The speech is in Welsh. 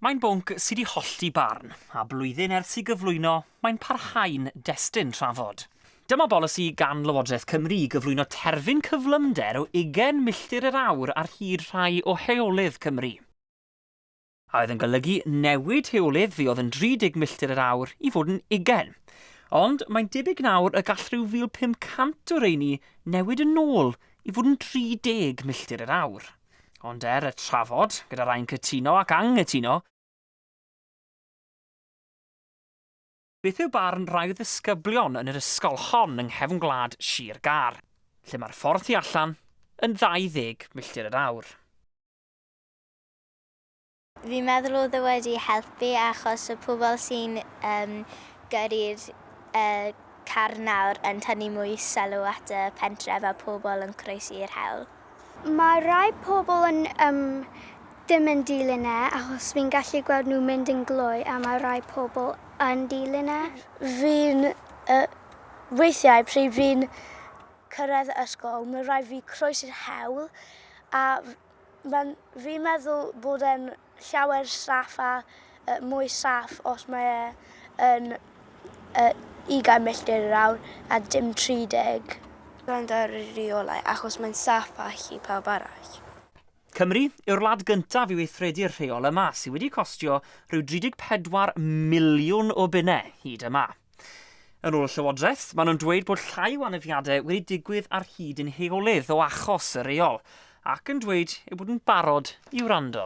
Mae'n bwnc sydd wedi hollti barn, a blwyddyn ers i gyflwyno, mae'n parhau'n destun trafod. Dyma bolisi gan Lywodraeth Cymru i gyflwyno terfyn cyflymder o ugain milltir yr awr ar hyd rhai o heolydd Cymru. a oedd yn golygu newid rheolydd fi oedd yn 30 milltir yr awr i fod yn ugain. Ond mae'n debyg nawr y gall rhyw 1,500 o reini newid yn ôl i fod yn 30 milltir yr awr. Ond er y trafod, gyda rhai'n cytuno ac anghytuno, Beth yw barn rai o ddisgyblion yn yr ysgol hon yng nghefn gwlad Sir Gâr, lle mae'r ffordd tu allan yn 20 milltir yr awr? Fi'n meddwl oedd e wedi helpu achos y pobl sy'n yym gyrru'r yy car nawr yn tynnu mwy sylw at y pentref a pobl yn croesi'r hewl. Mae rhai pobl yn yym ddim yn dilyn e achos fi'n gallu gweld nhw mynd yn glou a mae rhai pobl yn dilyn e. Fi'n yy weithiau pryd fi'n cyrraedd y ysgol mae rhaid fi croesi'r hewl a Mae'n, fi'n meddwl bod e'n llawer saff a yy mwy saff os mae e yn yy ugain milltir yr awr a dim tri deg. Gwrando ar y rheolau achos mae'n saff a allu pawb arall. Cymru yw'r wlad gyntaf i weithredu'r rheol yma, sy' wedi costio rhyw 34 miliwn o bunne hyd yma. Yn ôl y Llywodraeth, maen nhw'n dweud bod llai o anafiadau wedi digwydd ar hyd ein heolydd o achos y reol, ac yn dweud eu bod yn barod i wrando.